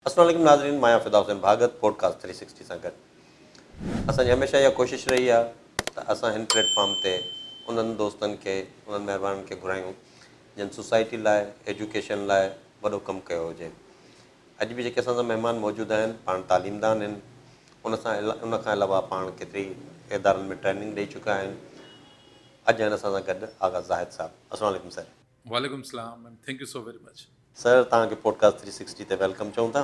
السلام عليڪم ناظرين مان آهيان فدا حسين ڀاڳت پوڊڪاسٽ ٿري سڪسٽي سان گڏ اسان جي هميشه اها ڪوشش رهي آهي ته اسان هن پليٽ فارم تي انهن دوستن کي انهن مهربانن کي گهرايون جن سوسائٽي لاء ايجوڪيشن لاء وڏو ڪم ڪيو هجي اڄ به جيڪي اسان سان مهمان موجود آهن پاڻ تعليمدان آهن ان سان ان کان علاوه پاڻ ڪيتري ادارن ۾ ٽريننگ ڏئي چڪا آهن اڄ آهن اسان سان گڏ آغا زاهد صاحب السلام عليڪم سر. وعليڪم السلام and thank you so very much. Sir توهان کي پوڊ ڪاسٽ ٿري سڪسٽي تي ويلڪم چئون ٿا.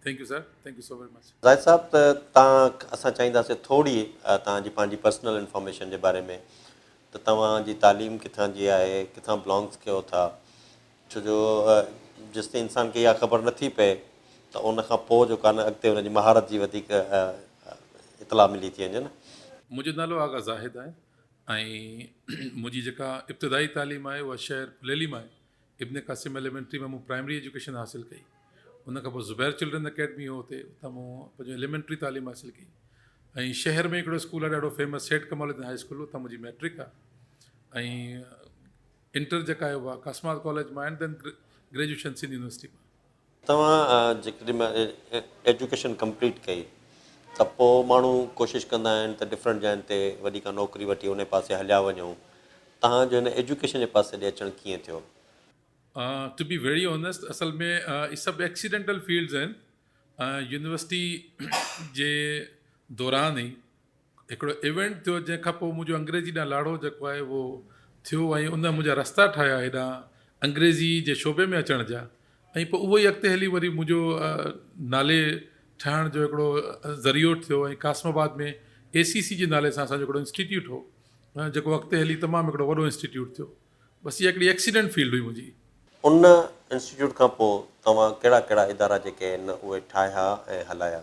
Thank you sir thank you so very much. Zahid صاحب ته توهان اسان چاهينداسين ٿورڙي توهان جي پنهنجي پرسنل انفارميشن جي باري ۾ ته توهان جي تعليم ڪٿان جي آهي ڪٿان بلانگس ڪيو ٿا ڇو جو جيستائين انسان کي اها خبر نٿي پئي ته ان کان پوء جو ڪانه اڳتي ان جي مهارت جي وڌيڪ اطلاع ملي ٿي وڃي نه. منهنجو نالو آغا زاهد آهي ۽ منهنجي جيڪا ابتدائي تعليم آهي اها شهر پليلي مان آهي. ابن قاسم ايليمينٽري مان مون پرائمري ايجوڪيشن حاصل ڪئي. ان کان پوء زبير چلڊرن اڪيڊمي هو اتي اتان مون پنهنجو ايليمينٽري تعليم حاصل ڪئي ۽ شهر ۾ هڪڙو اسڪول آهي ڏاڍو famous Seth Kamal Uddin high school اتان منهنجي ميٽرڪ آهي ۽ انٽر جيڪا آهي اها ڪاسمارڪ ڪاليج مان and then graduation Sindh university مان. توهان جيڪڏهن ايجوڪيشن ڪمپليٽ ڪئي ته پوء ماڻهو ڪوشش ڪندا آهن ته ڊفرنٽ جاين تي وڏي ڪا نوڪري وٺي انهي پاسي هليا وڃون توهان جو هن ايجوڪيشن جي پاسي ڏي اچڻ ڪيئن ٿيو؟ ٽو بي ويري اونيسٽ اصل ۾ هي سڀ ايڪسيڊنٽل فيلڊز آهن يونيورسٽي جي دوران ئي هڪڙو ايونٽ ٿيو جنهن کان پوء منهنجو انگريزي ڏانهن لاڙو جيڪو آهي اهو ٿيو ۽ ان منهنجا رستا ٺاهيا هيڏانهن انگريزي جي شعبي ۾ اچڻ جا ۽ پوء اهو ئي اڳتي هلي وري منهنجو نالي ٺهڻ جو هڪڙو ذريعو ٿيو ۽ قاسم آباد ۾ اي سي سي جي نالي سان اسانجو هڪڙو انسٽيٽيوٽ هو جيڪو اڳتي هلي تمام هڪڙو وڏو انسٽيٽيوٽ ٿيو بس اها هڪڙي ايڪسيڊنٽ فيلڊ هئي منهنجي. ان انسٽيٽيوٽ کان پوء توهان ڪهڙا ڪهڙا ادارا جيڪي آهن اهي ٺاهيا ۽ هلايا؟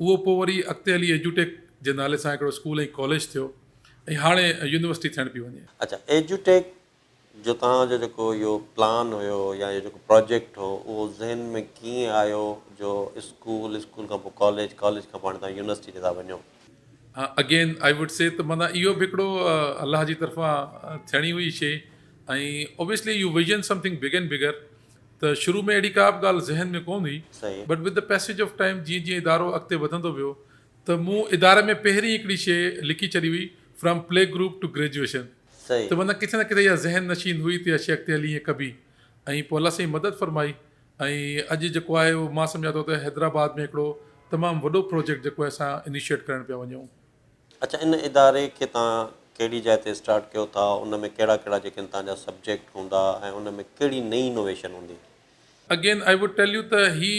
اهو پوء وري اڳتي هلي ايجوٽيڪ جي نالي سان هڪڙو اسڪول ۽ ڪاليج ٿيو ۽ هاڻي يونيورسٽي ٿيڻ پيئي وڃي. اڇا ايجوٽيڪ جو توهان جو جيڪو اهو پلان هيو يا اهو جيڪو پراجيڪٽ هو اهو ذهن ۾ ڪيئن آيو جو اسڪول، اسڪول کان پوء ڪاليج، ڪاليج کان پوء هاڻي توهان يونيورسٽي تي ٿا وڃو. اگين آء وڊ سي ته معنيٰ اهو به هڪڙو الله جي طرفان ٿيڻي هئي شي ۽ obviously you envision something big and bigger ته شروع ۾ اهڙي ڪا به ڳالهه ذهن ۾ ڪونه هئي but with the passage of time جيئن جيئن ادارو اڳتي وڌندو ويو ته مون اداري ۾ پهرين هڪڙي شيء لکي ڇڏي هئي from play group to graduation ته معنيٰ ڪٿي نه ڪٿي اها ذهن نشين هئي ته اها شيء اڳتي هلي هيئن ڪبي ۽ پوء الله سائين مدد فرمائي ۽ اڄ جيڪو آهي اهو مان سمجهان ٿو ته حيدرآباد ۾ هڪڙو تمام وڏو پروجيڪٽ جيڪو آهي اسان انيشيئيٽ ڪرڻ پيا وڃون اچا ان اداري کي توهان ڪهڙي جاء تي اسٽارٽ ڪيو ٿا ان ۾ ڪهڙا ڪهڙا جيڪن توهان جا سبجيڪٽ هوندا ۽ ان ۾ ڪهڙي نئين انوويشن هوندي. Again I would tell you ته هي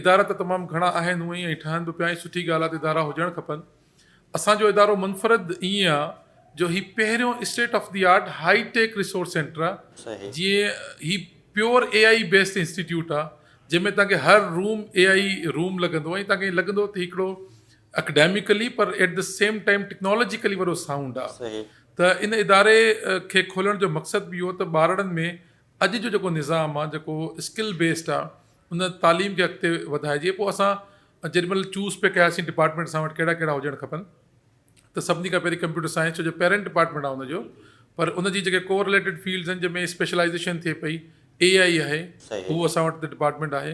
ادارا ته تمام گهڻا آهن هونء ۽ ٺهن به پيا ۽ سٺي ڳالهه آهي ته ادارا هجڻ کپن اسان جو ادارو منفرد ائين آهي جو هي پهريون state of the art high tech resource centre آهي صحيح. جيئن هي pure A I A based institute آهي جنهن ۾ توهان کي هر room A I A room لڳندو ۽ توهان کي ائين لڳندو ته هي هڪڙو اڪيڊميڪلي پر at the same time technologically وڏو سائونڊ آ ته ان اداري کي کولڻ جو مقصد به اهو ته ٻارڙن ۾ اڄ جو جيڪو نظام آ جيڪو اسڪل بيسڊ آ ان تعليم کي اڳتي وڌائجي پوء اسان جيڏي مهل چوز پي ڪياسين ڊپارٽمينٽ اسان وٽ ڪهڙا ڪهڙا هجڻ کپن ته سڀني کان پهرين ڪمپيوٽر سائنس جو پيرنٽ ڊپارٽمينٽ آ ان جو پر ان جي جيڪي ڪو رليٽيڊ فيلڊز آهن جنهن ۾ اسپيشلائزيشن ٿئي پئي اي آئي آهي هو اسان وٽ ڊپارٽمينٽ آهي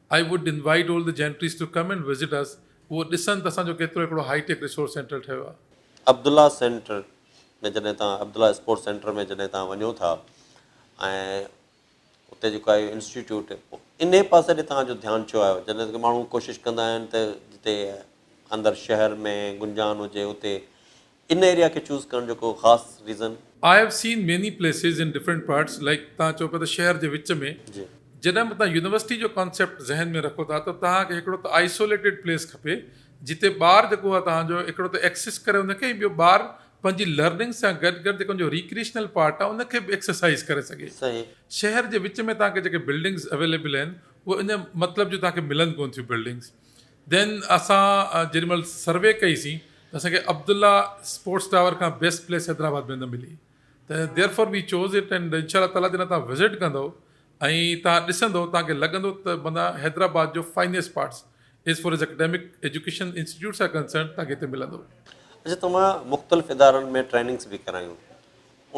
I would invite all the gentries to come and visit us اهو ڏسن ته اسان جو ڪيترو هڪڙو هائي ٽيڪ ريسورس سينٽر ٺهيو آهي. عبدالله سينٽر ۾ جڏهن توهان عبدالله اسپورٽس سينٽر ۾ جڏهن توهان وڃو ٿا ۽ اتي جيڪو آهي انسٽيٽيوٽ انهي پاسي ڏي توهان جو ڌيان ڇو آيو جڏهن ته ماڻهو ڪوشش ڪندا آهن ته جتي اندر شهر ۾ گنجان هجي اتي ان ايريا کي چوز ڪرڻ جو ڪو خاص reason? I have seen many places in different parts like تهان چئو پيا ته شهر جي وچ ۾ جڏهن به تهان يونيورسٽي جو ڪانسيپٽ ذهن ۾ رکو ٿا ته تهان کي هڪڙو ته آئسوليٽيڊ پليس کپي جتي ٻار جيڪو آهي تهان جو هڪڙو ته ايڪسيس ڪري ان کي ۽ ٻيو ٻار پنهنجي لرننگ سان گڏ گڏ جيڪو ان جو ريڪريشنل پارٽ آهي ان کي به ايڪسرسائز ڪري سگهي شهر جي وچ ۾ تهان کي جيڪي بلڊنگز اويليبل آهن اهي ان مطلب جون تهان کي ملن ڪون ٿيون بلڊنگز دين اسان جيڏي مھل سروي ڪئي سين ته اسان کي عبدالله اسپورٽس ٽاور کان بيسٽ پليس حيدرآباد ۾ نه ملي ته therefore we choose it and انشاء الله تعالي جڏھن تھان وزٽ ڪندؤ ۽ تھان ڏسندؤ تھان کي لڳندو ته معنيٰ حيدرآباد جو finest parts as far as academic education institutes are concerned تھان کي ھتي ملندو. اسين تمام مختلف ادارن ۾ ٽريننگس به ڪرايون.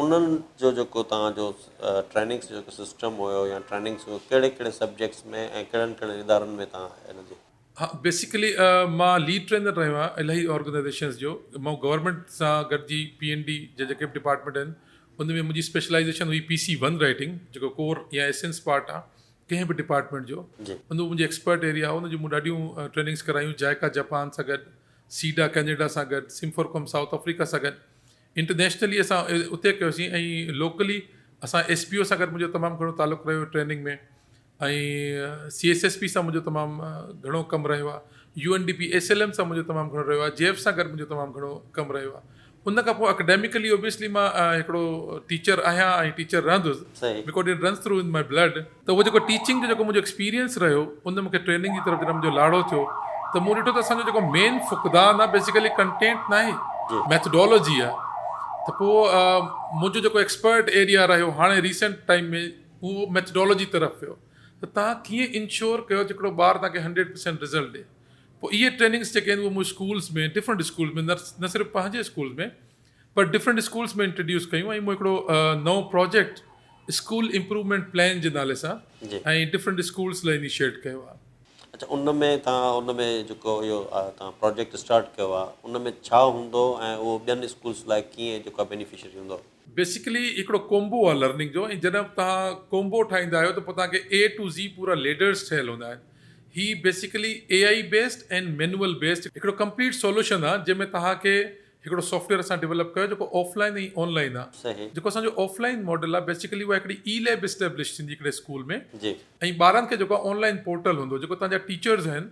انهن جو جيڪو توهان جو ٽريننگس جو جيڪو سسٽم هيو يا ٽريننگس هيو ڪهڙي ڪهڙي سبجيڪٽس ۾ ۽ ڪهڙن ڪهڙن ادارن ۾ توهان ان جي. ها بيسڪلي مان ليڊ ٽرينر رهيو آهيان الاهي آرگنائزيشنس جو مون گورنمينٽ سان گڏجي پي اين ڊي جا جيڪي به ڊپارٽمينٽ آهن ان ۾ منهنجي اسپيشلائيزيشن هئي پي سي ون رائيٽنگ جيڪو ڪور يا ايسنس پارٽ آهي ڪنهن به ڊپارٽمينٽ جو جي. ان جو منهنجي ايڪسپرٽ ايريا هو ان جو مون ڏاڍيون ٽريننگس ڪرايون جائيڪا جپان سان گڏ سيڊا ڪينيڊا سان گڏ سمفورڪوم سائوٿ آفريڪا سان گڏ انٽرنيشنلي اسان اتي ڪيوسين ۽ لوڪلي اسان ايس پي او سان گڏ منهنجو تمام گهڻو تعلق رهيو training ۾ ۽ C S S P سان منهنجو تمام گهڻو ڪم رهيو آ U N D P S L M سان منهنجو تمام گهڻو رهيو آ جي ايف سان گڏ منهنجو تمام گهڻو ڪم رهيو آ ان کان پوء اڪيڊميڪلي اوبيسلي مان هڪڙو ٽيچر آهيان ۽ ٽيچر رهندس because it runs through in my blood ته اهو جيڪو ٽيچنگ جو جيڪو منهنجو ايڪسپيرينس رهيو ان ۾ مونکي ٽريننگ جي طرف جڏهن منهنجو لاڙو ٿيو ته مون ڏٺو ته اسان جو جيڪو مين فقدان آهي بيسيڪلي ڪنٽينٽ ناهي ميٿڊالوجي آهي ته پوء منهنجو جيڪو ايڪسپرٽ ايريا رهيو هاڻي ريسنٽ ٽائيم ۾ اهو ميٿڊالوجي طرف ويو ته تان ڪيئن انشور ڪيو ته هڪڙو ٻار تان کي هنڊريڊ پرسينٽ رزلٽ ڏي پوء اهي ٽريننگس جيڪي آهن اهي مون اسڪولس ۾ ڊفرنٽ اسڪولس ۾ نه صرف پنهنجي اسڪول ۾ پر ڊفرنٽ اسڪولس ۾ انٽرڊيوس ڪيون ۽ مون هڪڙو نئون پراجيڪٽ اسڪول امپروومينٽ پلان جي نالي سان ۽ ڊفرنٽ اسڪولس لاء انيشيٽ ڪيو آهي. اڇا ان ۾ تان ان ۾ جيڪو اهو تان پراجيڪٽ اسٽارٽ ڪيو آهي ان ۾ ڇا هوندو ۽ اهو ٻين اسڪولس لاء ڪيئن جيڪو بينيفشري هوندو. بيسيڪلي هڪڙو ڪومبو آهي لرننگ جو ۽ جڏهن تان ڪومبو ٺاهيندا آهيو ته پوء تان کي اي ٽو زي پورا ليڊرس ٺهيل هوندا آهن هي basically A I based and manual based هڪڙو ڪمپليٽ سولوشن آهي جنهن ۾ تان کي هڪڙو سافٽويئر اسان ڊولپ ڪيو آهي جيڪو آف لائين ۽ آن لائين آهي صحيح. جيڪو اسان جو آف لائين ماڊل آهي بيسيڪلي اها هڪڙي اي ليب اسٽيبلش ٿيندي هڪڙي اسڪول ۾ جي. ۽ ٻارن کي جيڪو آن لائين پورٽل هوندو جيڪو تهان جا ٽيچرز آهن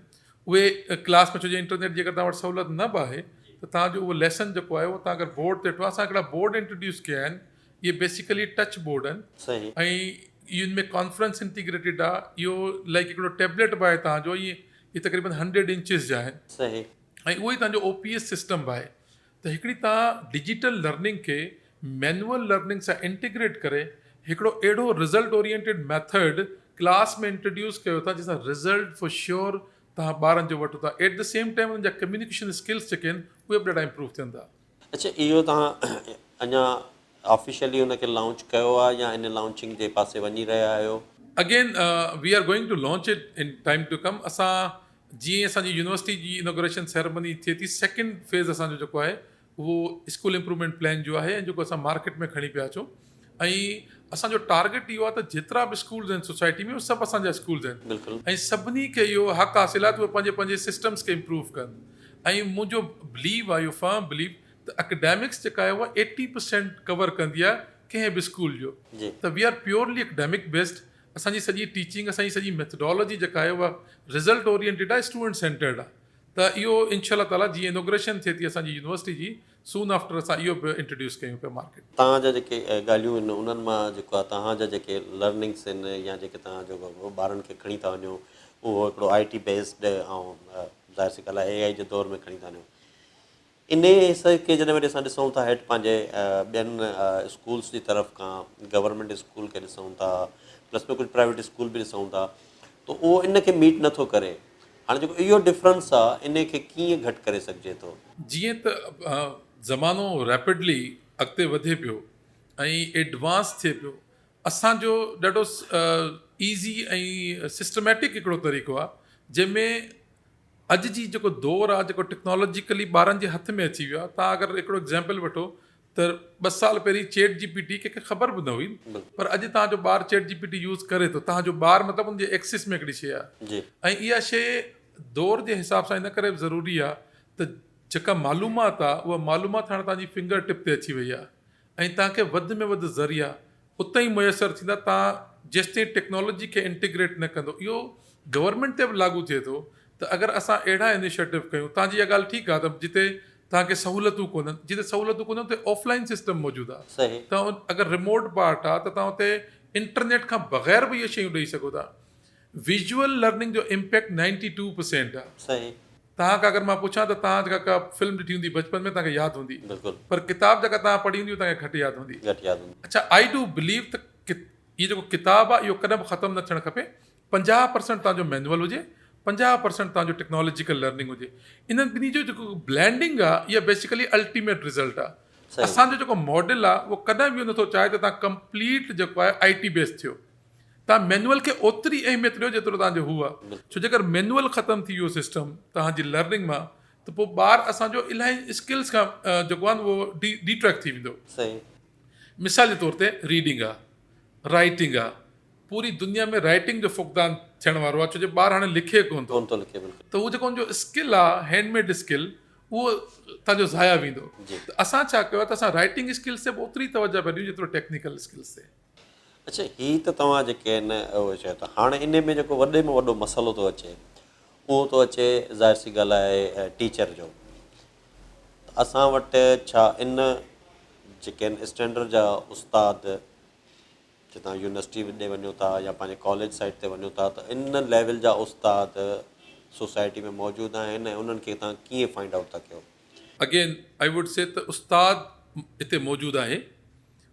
اهي ڪلاس ۾ ڇو جو انٽرنيٽ جي اگر تهان وٽ سهولت نه به آهي ته تهان جو اهو ليسن جيڪو آهي اهو تهان اگر بورڊ تي ٺو اسان هڪڙا بورڊ انٽروڊيوس ڪيا آهن اهي بيسيڪلي ٽچ بورڊ آهن صحيح. ۽ ان ۾ ڪانفرنس انٽيگريٽيڊ آهي اهو لائڪ هڪڙو ٽيبليٽ به آهي تهان جو ائين هي تقريبن هنڊريڊ انچز جا آهن. صحيح. ۽ اهو ئي توهان جو او پي ايس سسٽم به آهي ته هڪڙي توهان ڊجيٽل لرننگ کي مينوئل لرننگ سان انٽيگريٽ ڪري هڪڙو اهڙو result oriented method class ۾ introduce ڪيو ٿا جنهن سان رزلٽ فور شيور توهان ٻارن جو وٺو ٿا ايٽ دي سيم ٽائيم انهن جا ڪميونيڪيشن اسڪلس جيڪي آهن اهي به ڏاڍا امپروو ٿين ٿا اڇا اهو توهان اڃا آفيشلي ان کي لانچ ڪيو آهي يا ان لانچنگ جي پاسي وڃي رهيا آهيو؟ Again we are going to launch it in time to come اسان جيئن ئي اسان جي يونيورسٽي جي انوگريشن سيرمني ٿئي ٿي سيڪنڊ فيز اسان جو جيڪو آهي اهو اسڪول امپرومينٽ پلان جو آهي ۽ جيڪو اسان مارڪيٽ ۾ کڻي پيا اچون ۽ اسان جو ٽارگيٽ اهو آهي ته جيترا به اسڪولز آهن سوسائٽي ۾ اهي سڀ اسان جا اسڪولز آهن ۽ سڀني کي اهو حق حاصل آهي ته اهي پنهنجي پنهنجي سسٽمز کي امپروو ڪن ۽ منهنجو بليو آهي اهو فرم بليو ته اڪيڊمڪس جيڪا آهي اها ايٽي پرسينٽ ڪور ڪندي آهي ڪنهن به اسڪول جو ته we are purely academic based اسان جي سڄي ٽيچنگ اسان جي سڄي ميٿڊالاجي جيڪا آهي اها رزلٽ اورينٽيڊ آهي اسٽوڊنٽ سينٽرڊ آهي ته اهو انشاء الله تعاليٰ جيئن انوگريشن ٿئي ٿي اسان جي يونيورسٽي جي سون آفٽر اسان اهو به انٽروڊيوس ڪيون پيا مارڪيٽ ۾. توهان جا جيڪي ڳالهيون آهن انهن مان جيڪو آهي توهان جا جيڪي لرننگس آهن يا جيڪي توهان جو ٻارن کي کڻي ٿا وڃو اهو هڪڙو آئي ٽي بيسڊ ۽ ظاهر سي ڳالهه آهي اي آئي جي دور ۾ کڻي ٿا وڃو انهي حصي کي جڏهن وٽ اسان ڏسون ٿا هيٺ پنهنجي ٻين اسڪولس جي طرف کان گورنمينٽ اسڪول کي ڏسون ٿا پلس ٻيو ڪجهه پرائيويٽ اسڪول به ڏسون ٿا ته اهو ان کي ميٽ نٿو ڪري هاڻي جيڪو اهو ڊفرنس آ انهي کي ڪيئن گهٽ ڪري سگهجي ٿو؟ جيئن ته زمانو ريپڊلي اڳتي وڌي پيو ۽ ايڊوانس ٿئي پيو اسان جو ڏاڍو ايزي ۽ سسٽميٽڪ هڪڙو طريقو آ جنهن ۾ اڄ جي جيڪو دور آ جيڪو ٽيڪنالاجيڪلي ٻارن جي هٿ ۾ اچي ويو آ تان اگر هڪڙو ايگزامپل وٺو ته ٻه سال پهرين چيٽ جي پي ٽي ڪنهن کي خبر به نه هئي پر اڄ توهان جو ٻار chat G P T use ڪري ٿو توهان جو ٻار مطلب ان جي ايڪسس ۾ هڪڙي شي آهي ۽ اها شي دور جي حساب سان ان ڪري به ضروري آهي ته جيڪا معلومات آهي اها معلومات هاڻي توهان جي فنگر ٽپ تي اچي وئي آهي ۽ توهان کي وڌ ۾ وڌ ذريعا اتي ئي ميسر ٿيندا تان جيستائين ٽيڪنالاجي کي انٽيگريٽ نه ڪندو اهو گورنمينٽ تي به لاڳو ٿئي ٿو ته اگر اسان اهڙا انيشيٽو ڪيون تان جي اها ڳالهه ٺيڪ آهي ته جتي تان کي سهولتون ڪونهن جتي سهولتون ڪونهن اتي آف لائين سسٽم موجود آهي تان اگر رموٽ پارٽ آهي ته تان اتي انٽرنيٽ کان بغير به اهي شيون ڏئي سگهو ٿا ويزوئل لرننگ جو امپيڪٽ نائنٽي ٽو پرسينٽ آ. صحيح. توهان کان اگر مان پڇان ته توهان جيڪا ڪا فلم ڏٺي هوندي بچپن ۾ توهان کي ياد هوندي. بلڪل. پر ڪتاب جيڪا توهان پڙهي هوندي هو توهان کي گهٽ ياد هوندي. گهٽ ياد هوندي. اڇا آئي ڊو بليو ته ڪت هي جيڪو ڪتاب آ اهو ڪڏهن به ختم نه ٿيڻ کپي پنجاهه پرسينٽ توهان جو مينوئل هجي پنجاهه پرسينٽ توهان جو ٽيڪنالاجيڪل لرننگ هجي انهن ٻنهي جو جيڪو بلينڊنگ آ اها بيسيڪلي الٽيميٽ رزلٽ آ صحيح. اسان جو جيڪو ماڊل آ اهو ڪڏهن به اهو نه ٿو چاهي ته توهان ڪمپليٽ جيڪو آهي آئي ٽي بيس ٿيو. توهان مينوئل کي اوتري ئي اهميت ڏيو جيترو توهان جو هو آ ڇو جي اگر مينوئل ختم ٿي ويو سسٽم توهان جي لرننگ مان ته پوء ٻار اسان جو الاهي اسڪلس کان جيڪو آهن اهو ڊي ٽريڪ ٿي ويندو مثال جي طور تي ريڊنگ آ رائيٽنگ آ پوري دنيا ۾ رائيٽنگ جو فقدان ٿيڻ وارو آ ڇو جي ٻار هاڻي لکي ڪون ٿو ته اهو جيڪو ان جو اسڪل آ هينڊ ميڊ اسڪل اهو توهان جو ضايع ويندو ته اسان ڇا ڪيو آ ته اسان رائيٽنگ اسڪلس تي به اوتري توجه پيا ڏيون جيترو ٽيڪنيڪل اسڪلس تي اڇا هي ته توهان جيڪي هن اهو چيو ته هاڻي انهي ۾ جيڪو وڏي ۾ وڏو مسئلو ٿو اچي اهو ٿو اچي ظاهر سي ڳالهه آهي ٽيچر جو ته اسان وٽ ڇا ان جيڪي آهن اسٽينڊرڊ جا استاد جي تان يونيورسٽي ڏي وڃو ٿا يا پنهنجي ڪاليج سائيٽ تي وڃو ٿا ته ان ليول جا استاد سوسائٽي ۾ موجود آهن ۽ انهن کي تان ڪيئن فائنڊ آئوٽ ٿا ڪيو. اگين آئي ووڊ سي ته استاد هتي موجود آهي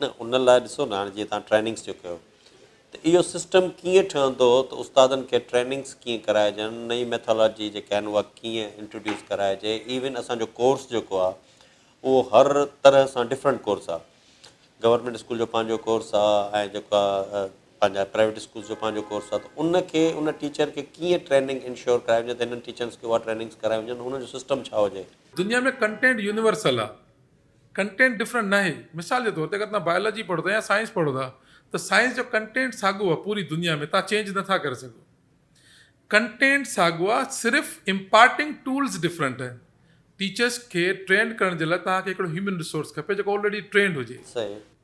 نه ان لاء ڏسو نه هاڻي جيئن تهان ٽريننگس جو ڪيو ته اهو سسٽم ڪيئن ٺهندو ته استادن کي ٽريننگس ڪيئن ڪرائجن نئي ميٿالاجي جيڪا آهن اها ڪيئن انٽروڊيوس ڪرائجي ايون اسان جو ڪورس جيڪو آهي اهو هر طرح سان ڊفرنٽ ڪورس آهي گورنمنٽ اسڪول جو پنهنجو ڪورس آهي ۽ جيڪا پنهنجا پرائيويٽ اسڪولس جو پنهنجو ڪورس آهي ته ان کي ان ٽيچر کي ڪيئن ٽريننگ انشور ڪرائي وڃي ته هنن ٽيچرس کي اها ٽريننگس ڪرائي وڃن ان جو سسٽم ڇا هجي دنيا ۾ ڪنٽينٽ يونيورسل آ ڪنٽينٽ ڊفرنٽ ناهي، مثال جي طور تي اگر توهان بائيولاجي پڙهو ٿا يا سائنس پڙهو ٿا ته سائنس جو ڪنٽينٽ ساڳيو آهي پوري دنيا ۾ توهان چينج نه ٿا ڪري سگهو ڪنٽينٽ ساڳيو آهي صرف امپارٽنگ ٽولز ڊفرنٽ آهن ٽيچرس کي ٽرينڊ ڪرڻ جي لاء توهان کي هڪڙو هيومن ريسورس کپي جيڪو آلريڊي ٽرينڊ هجي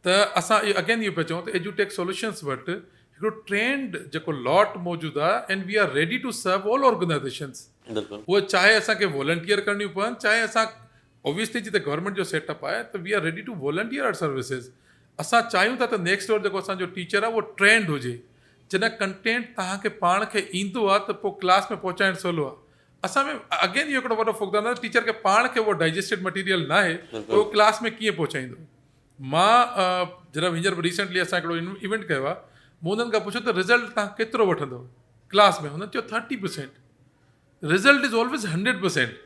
ته اسان اهو اگين اهو پيا چئون ته ايڊيوٽيڪ سولوشنس وٽ هڪڙو ٽرينڊ جيڪو لاٽ موجود آهي and we are ready to serve all organisations هو چاهي اسان کي والنٽيئر ڪرڻيون پون چاهي اسان اوبويسلي جي ته گورنمينٽ جو سيٽ اپ آهي ته we are ready to volunteer our services اسان چاهيون ٿا ته نيڪسٽ ڊور جيڪو اسان جو ٽيچر آهي اهو ٽرينڊ هجي جڏهن ڪنٽينٽ توهان کي پاڻ کي ايندو آهي ته پوء ڪلاس ۾ پهچائڻ سولو آهي اسان ۾ اگين اهو هڪڙو وڏو فقدان آهي ٽيچر کي پاڻ کي اهو ڊائجسٽيڊ مٽيريل ناهي ته اهو ڪلاس ۾ ڪيئن پهچائيندو مان جڏهن هينئر ريسنٽلي اسان هڪڙو ايونٽ ڪيو آهي مون انهن کان پڇيو ته رزلٽ تان ڪيترو وٺندو ڪلاس ۾ هنن چيو thirty percent result is always hundred percent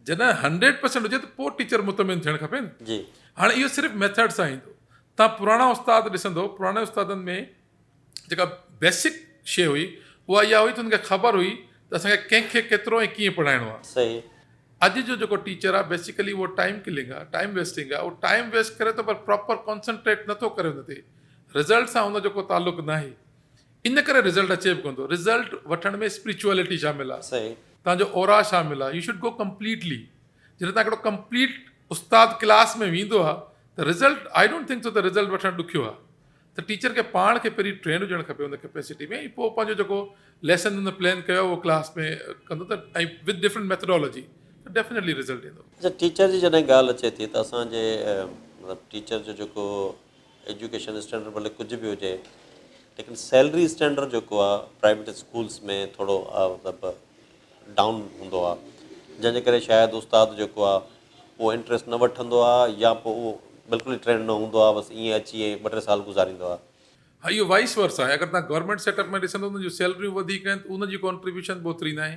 جڏهن هنڊريڊ پرسينٽ هجي ته پوء ٽيچر مطمئن ٿيڻ کپي نه جي هاڻي اهو صرف ميٿڊ سان ايندو تان پراڻا استاد ڏسندو پراڻي استادن ۾ جيڪا بيسڪ شي هئي اها اها هئي ته ان کي خبر هئي ته اسان کي ڪنهن کي ڪيترو ۽ ڪيئن پڙهائڻو آهي صحيح اڄ جو جيڪو ٽيچر آهي بيسيڪلي اهو ٽائيم ڪلنگ آهي ٽائيم ويسٽنگ آهي اهو ٽائيم ويسٽ ڪري ٿو پر پراپر ڪانسنٽريٽ نٿو ڪري ان تي رزلٽ سان ان جو ڪو تعلق ناهي ان ڪري رزلٽ اچي به ڪونه ٿو. رزلٽ وٺڻ ۾ اسپريچوئلٽي شامل آ. توهان جو اورا شامل آ. You should go completely. جڏهن توهان هڪڙو ڪمپليٽ استاد ڪلاس ۾ ويندو آ ته result I don't think so ته رزلٽ وٺڻ ڏکيو آ. ته ٽيچر کي پاڻ کي پهرين ٽرينڊ هجڻ کپي ان ڪيپيسٽي ۾ ۽ پوء پنهنجو جيڪو ليسن هن پلان ڪيو آ اهو ڪلاس ۾ ڪندو ته ۽ وٿ ڊفرنٽ ميٿڊالاجي ته ڊيفنيٽلي رزلٽ ايندو. اچا ٽيچر جي جڏهن ڳالهه اچي ٿي ته اسان جي مطلب ٽيچر جو جيڪو ايجوڪيشن اسٽينڊرڊ ڀلي ڪجهه به هجي ليڪن سيلري اسٽينڊرڊ جيڪو آهي پرائيويٽ اسڪولس ۾ ٿورو مطلب ڊائون هوندو آهي جنهن جي ڪري شايد استاد جيڪو آهي هو انٽرسٽ نه وٺندو آهي يا پوء هو بلڪل ئي ٽرينڊ نه هوندو آهي بس ائين اچي ائين ٻه ٽي سال گذاريندو آهي. ها اهو وائيس ورسا آهي اگر توهان گورنمينٽ سيٽ اپ ۾ ڏسندو ته ان جون سيلريون وڌيڪ آهن ته ان جي ڪانٽريبيوشن به اوتري ناهي.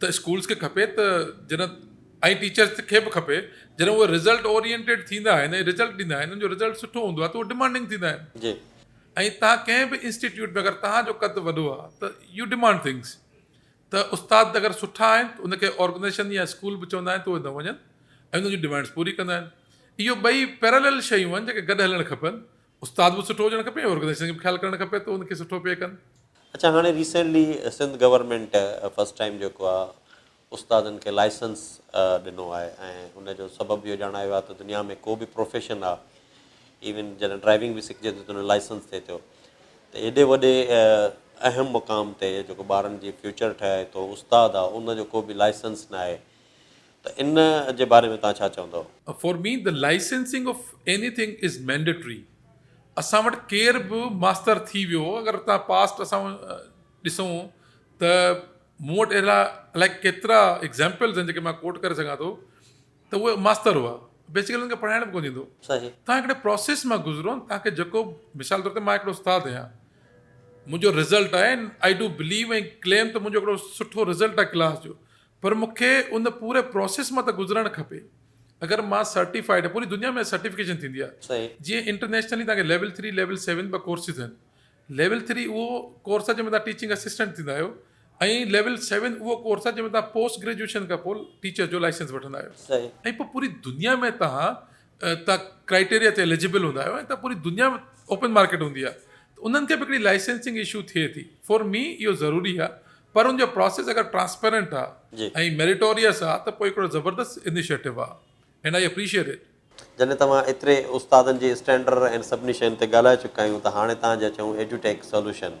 ته اسڪولس کي کپي ته جڏهن ۽ ٽيچرس کي به کپي جڏهن اهي رزلٽ اورينٽيڊ ٿيندا آهن ۽ رزلٽ ڏيندا آهن ان جو رزلٽ سٺو هوندو آهي ته اهي ڊمانڊنگ ٿيندا آهن جي ۽ تهان ڪنهن به انسٽيٽيوٽ ۾ اگر تهان جو قد وڏو آهي ته يو ڊمانڊ ٿنگس ته استاد اگر سٺا آهن ته ان کي آرگنائزيشن يا اسڪول به چوندا آهن ته اهي نه وڃن ۽ ان جون ڊمانڊس پوري ڪندا آهن اهو ٻئي پيرالل شيون آهن جيڪي گڏ هلڻ کپن استاد به سٺو هجڻ کپي ۽ آرگنائيزيشن کي به خيال ڪرڻ کپي ته ان کي سٺو پي ڪن. اڇا هاڻي recently Sindh government first time جيڪو آ استادن کي لائسنس ڏنو آهي ۽ ان جو سبب اهو ڄاڻايو آهي ته دنيا ۾ ڪو به پروفيشن آ ايون جڏهن ڊرائيونگ به سکجي ٿي ته ان جو لائسنس ٿئي ٿو ته ايڏي وڏي اهم مقام تي جيڪو ٻارن جي فيوچر ٺهي ٿو استاد آ ان جو ڪو به لائسنس ناهي ته ان جي باري ۾ توهان ڇا چوندؤ؟ For me the licensing of anything is mandatory اسان وٽ ڪير به ماستر ٿي ويو اگر توهان پاسٽ اسان ڏسون ته مون وٽ اهڙا الائي ڪيترا ايگزامپلز آهن جيڪي مان ڪوٽ ڪري سگهان ٿو ته اهي ماستر هئا بيسڪلي انهن کي پڙهائڻ به ڪونه ايندو توهان هڪڙي پروسيس مان گذرو توهان کي جيڪو مثال طور تي مان هڪڙو استاد آهيان منهنجو رزلٽ آهي آئي ڊو بليو ۽ ڪليم ته منهنجو هڪڙو سٺو رزلٽ آهي ڪلاس جو پر مون کي ان پوري پروسيس مان ته گذرڻ کپي اگر مان سرٽيفائيڊ آهيان پوري دنيا ۾ سرٽيفڪيشن ٿيندي آهي جيئن انٽرنيشنلي توهان کي ليول ٿري ليول سيون ٻه ڪورسز آهن ليول ٿري اهو ڪورس آهي جنهن ۾ توهان ٽيچنگ اسسٽنٽ ٿيندا آهيو ۽ ليول سيون اهو ڪورس آهي جنهن ۾ توهان پوسٽ گريجوئيشن کان پوء ٽيچر جو لائسنس وٺندا آهيو ۽ پوء پوري دنيا ۾ توهان تان ڪرائيٽيريا تي اليجبل هوندا آهيو ۽ تان پوري دنيا ۾ اوپن مارڪيٽ هوندي آهي ته انهن کي به هڪڙي لائسنسنگ ايشو ٿئي ٿي فور مي اهو ضروري آهي پر ان جو پروسيس اگر ٽرانسپيرنٽ آهي ۽ ميريٽوريس آهي ته پوء هڪڙو زبردست انيشيٽو آهي اينڊ آئي اپريشيئيٽ اٽ. جڏهن ته اوهان ايتري استادن جي اسٽينڊرڊ ۽ سڀني شين تي ڳالهائي چڪا آهيون ته هاڻي تان جا چئون ايڊيوٽيڪ سولوشن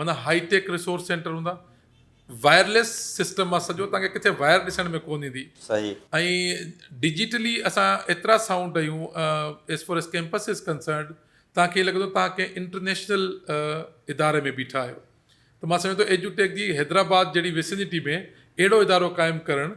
معنيٰ هائي ٽيڪ ريسورس سينٽر هوندا وائرليس سسٽم مان سڄو تان کي ڪٿي وائر ڏسڻ ۾ ڪون ايندي صحيح ۽ ڊجيٽلي اسان ايترا سائونڊ آهيون as far as campus is concerned تان کي لڳندو تان کي انٽرنيشنل اداري ۾ بيٺا آهيو ته مان سمجهان ٿو ايجوٽيڪ جي حيدرآباد جهڙي ويسنيٽي ۾ اهڙو ادارو قائم ڪرڻ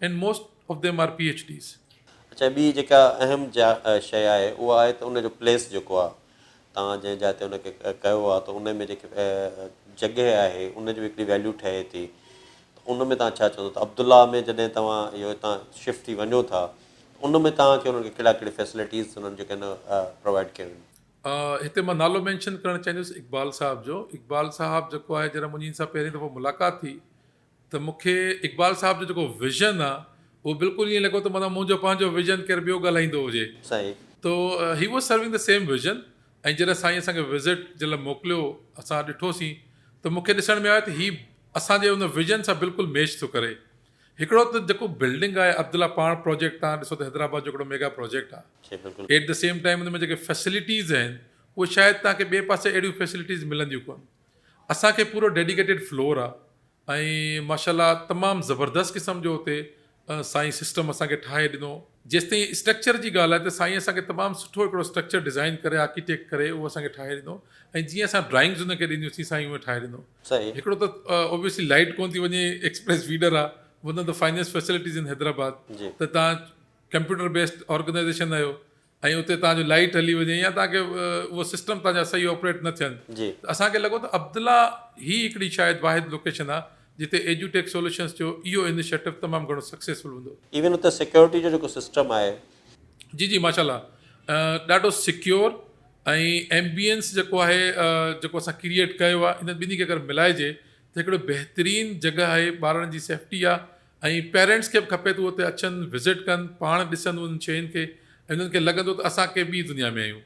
and most of them are PHDs. اڇا ٻي جيڪا اهم جا شيء آهي اها آهي ته ان جو پليس جيڪو آهي توهان جنهن جاء تي ان کي ڪيو آهي ته ان ۾ جيڪي جڳهه آهي ان جو هڪڙي ويليو ٺهي ٿي ته ان ۾ توهان ڇا چوندو ته عبدالله ۾ جڏهن توهان اهو هتان شفٽ ٿي وڃو ٿا ته ان ۾ توهان کي انهن کي ڪهڙا ڪهڙي فيسلٽيز انهن جيڪي ان پرووائڊ ڪيون آهن. هتي مان نالو مينشن ڪرڻ چاهيندس اقبال صاحب جو اقبال صاحب جيڪو آهي جڏهن منهنجي ان سان پهرين دفعو ملاقات ٿي ته مون کي اقبال صاحب جو جيڪو ويزن آ اهو بلڪل ائين لڳو ته معنيٰ منهنجو پنهنجو ويزن ڪير ٻيو ڳالهائيندو هجي. صحيح. تو he was serving the same vision ۽ جڏهن سائين اسان کي وزٽ جي لاء موڪليو اسان ڏٺوسين ته مون کي ڏسڻ ۾ آيو ته هي اسان جي ان ويزن سان بلڪل ميچ ٿو ڪري. هڪڙو ته جيڪو بلڊنگ آهي عبدالله پاڻ پراجيڪٽ تان ڏسو ته حيدرآباد جو هڪڙو ميگا پراجيڪٽ آ. جي بلڪل. ايٽ دي سيم ٽائيم ان ۾ جيڪي فيسلٽيز آهن اهي شايد توهان کي ٻئي پاسي اهڙيون فيسلٽيز ملنديون ڪونه. اسان کي پورو ڊيڊيڪيٽيڊ فلور آ ۽ ماشاءالله تمام زبردست قسم جو اتي سائين سسٽم اسان کي ٺاهي ڏنو جيستائين اسٽرڪچر جي ڳالهه آهي ته سائين اسان کي تمام سٺو هڪڙو اسٽرڪچر ڊيزائن ڪري آرڪيٽيڪٽ ڪري اهو اسان کي ٺاهي ڏنو ۽ جيئن اسان ڊرائنگز ان کي ڏنيون سين سائين اهو ٺاهي ڏنو هڪڙو ته اوبيسلي لائٽ ڪون ٿي وڃي ايڪسپريس فيڊر آ one of the finest facilities in Hyderabad ته تان ڪمپيوٽر بيسڊ آرگنائيزيشن آهيو ۽ اتي توهان جو لائيٽ هلي وڃي يا توهان کي اهو سسٽم توهان جا صحيح آپريٽ نه ٿين ته اسان کي لڳو ته عبدالله هي هڪڙي شايد واحد لوڪيشن آهي جتي ايڊيوٽيڪ سولوشنز جو اهو انيشيٽو تمام گهڻو سڪسيسفل هوندو. ايون اتي سيڪيورٽي جو جيڪو سسٽم آهي. جي جي ماشا الله ڏاڍو سڪيور ۽ ايمبيئنس جيڪو آهي جيڪو اسان ڪريئيٽ ڪيو آهي انهن ٻنهي کي اگر ملائجي ته هڪڙو بهترين جڳهه آهي ٻارڙن جي سيفٽي آهي ۽ پيرينٽس کي به کپي ته هو اتي اچن وزٽ ڪن پاڻ ڏسن انهن شين کي ۽ انهن کي لڳندو ته اسان ڪنهن ٻي دنيا ۾ آهيون.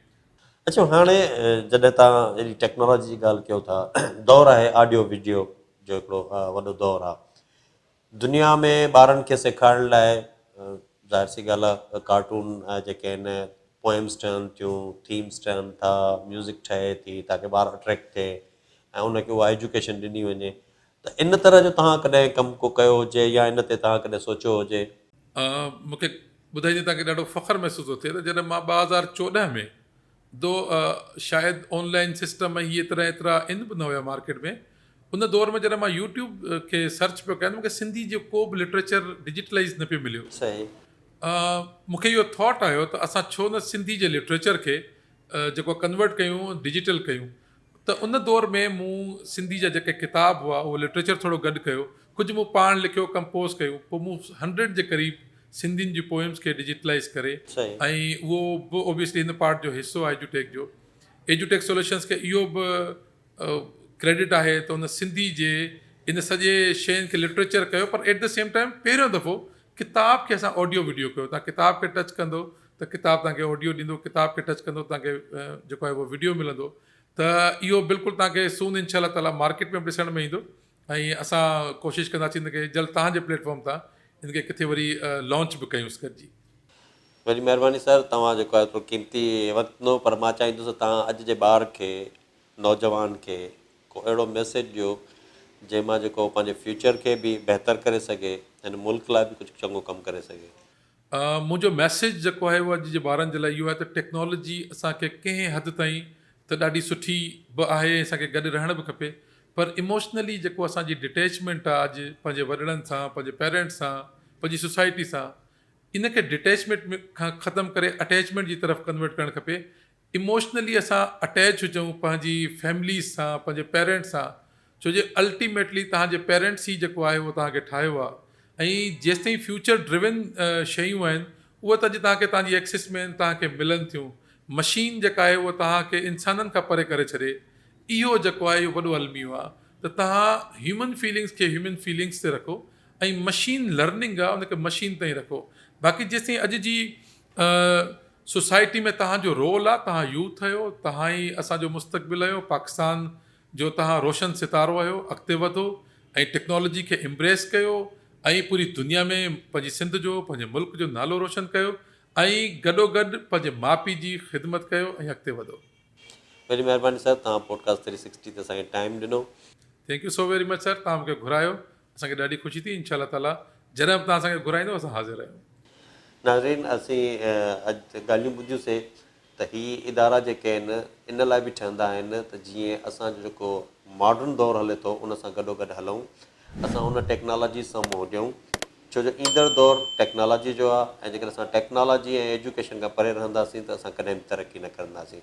اچو هاڻي جڏهن تان اهڙي ٽيڪنالاجي جي ڳالهه ڪيو ٿا دور آهي آڊيو وڊيو جو هڪڙو وڏو دور آ دنيا ۾ ٻارن کي سيکارڻ لاء ظاهر سي ڳالهه آ ڪارٽون جيڪي آهن پوئمس ٺهن ٿيون ٿيمس ٺهن ٿا ميوزڪ ٺهي ٿي تاڪه ٻار اٽريڪٽ ٿئي ۽ ان کي اها ايجوڪيشن ڏني وڃي ته ان طرح جو توهان ڪڏهن ڪم ڪو ڪيو هجي يا ان تي توهان ڪڏهن سوچيو هجي؟ مون کي ٻڌائي جي توهان کي ڏاڍو فخر محسوس ٿو ٿئي ته جڏهن مان ٻه هزار چوڏهن ۾ دو شايد آن لائين سسٽم ۽ هي طرح ايترا ان به نه هيا مارڪيٽ ۾ ان دور ۾ جڏهن مان يوٽيوب کي سرچ پيو ڪيان ته مون کي سنڌي جو ڪو به لٽريچر ڊجيٽلائز نه پيو مليو صحيح مون کي اهو ٿاٽ آيو ته اسان ڇو نه سنڌي جي لٽريچر کي جيڪو ڪنورٽ ڪيون ڊجيٽل ڪيون ته ان دور ۾ مون سنڌي جا جيڪي ڪتاب هئا اهو لٽريچر ٿورو گڏ ڪيو، ڪجهه مون پاڻ لکيو، ڪمپوز ڪيون، پوء مون هنڊريڊ جي قريب سنڌين جي پوئمز کي ڊجيٽلائيز ڪري ۽ اهو به اوبيسلي هن پارٽ جو حصو آهي ايجوٽيڪ جو، ايجوٽيڪ سوليوشنز کي اهو به ڪريڊٽ آهي ته ان سنڌي جي ان سڄي شين کي لٽريچر ڪيو پر ايٽ دي سيم ٽائيم پهريون دفعو ڪتاب کي اسان آڊيو وڊيو ڪيو، تان ڪتاب کي ٽچ ڪندو ته ڪتاب توهان کي آڊيو ڏيندو ڪتاب کي ٽچ ڪندو توهان کي جيڪو آهي اهو وڊيو ملندو ته اهو بلڪل توهان کي سون انشاء الله تعالٰي مارڪيٽ ۾ به ڏسڻ ۾ ايندو ۽ اسان ڪوشش ڪنداسين ان کي جلد توهان جي پليٽ فارم تان ان کي ڪٿي وري لانچ به ڪيونس گڏجي. وڏي مهرباني سر توهان جيڪو آهي ايترو قيمتي وقت ڏنو پر مان چاهيندس ته توهان اڄ جي ٻار کي نوجوان کي ڪو اهڙو ميسيج ڏيو جنهن مان جيڪو پنهنجي فيوچر کي به بهتر ڪري سگهي هن ملڪ لاء به ڪجهه چڱو ڪم ڪري سگهي. منهنجو ميسيج جيڪو آهي اهو اڄ جي ٻارن جي لاء اهو آهي ته ٽيڪنالاجي اسان کي ڪنهن حد تائين ته ڏاڍي سٺي به آهي ۽ اسان کي گڏ رهڻ به کپي پر ايموشنلي جيڪو اسان جي ڊٽيچمينٽ آهي اڄ پنهنجي وڏڙن سان پنهنجي پيرنٽس سان پنهنجي سوسائٽي سان ان کي ڊٽيچمينٽ کان ختم ڪري اٽيچمينٽ جي طرف ڪنورٽ ڪرڻ کپي اموشنلي اسان اٽيچ هجون پنهنجي فيمليز سان پنهنجي پيرينٽس سان ڇو جي الٽيميٽلي توهان جي پيرينٽس ئي جيڪو آهي اهو توهان کي ٺاهيو آهي ۽ جيستائين فيوچر ڊريون شيون آهن اهي ته اڄ توهان کي توهان جي ايڪسس ۾ توهان کي ملن ٿيون مشين جيڪا آهي اهو توهان کي انسانن کان پري ڪري ڇڏي اهو جيڪو آهي اهو وڏو الميو آهي ته توهان هيومن فيلنگس کي هيومن فيلنگس تي رکو ۽ مشين لرننگ آهي ان کي مشين تائين رکو باقي جيستائين اڄ جي سوسائٽي ۾ توهان جو رول آهي توهان يوٿ آهيو توهان ئي اسانجو مستقبل آهيو پاڪستان جو توهان روشن ستارو آهيو اڳتي وڌو ۽ ٽيڪنالاجي کي امبريس ڪيو ۽ پوري دنيا ۾ پنهنجي سنڌ جو پنهنجي ملڪ جو نالو روشن ڪيو ۽ گڏو گڏ پنهنجي ماء پيء جي خدمت ڪيو ۽ اڳتي وڌو. وڏي مهرباني سر توهان پوڊڪاسٽ ٿري سڪسٽي تي اسان کي ٽائيم ڏنو. Thank you so very much sir توهان مونکي گهرايو اسان کي ڏاڍي خوشي ٿي انشاء الله تعالي جڏهن به توهان اسان کي گهرائيندو اسان حاضر آهيون. ناظرين اسين اڄ ڳالهيون ٻڌيون سي ته هي ادارا جيڪي آهن ان لاء به ٺهندا آهن ته جيئن اسان جو جيڪو ماڊرن دور هلي ٿو ان سان گڏو گڏ هلون اسان ان ٽيڪنالاجي سان منهن ڏيون ڇو جو ايندڙ دور ٽيڪنالاجي جو آهي ۽ جيڪڏهن اسان ٽيڪنالاجي ۽ ايجوڪيشن کان پري رهنداسين ته اسان ڪڏهن به ترقي نه ڪرنداسين.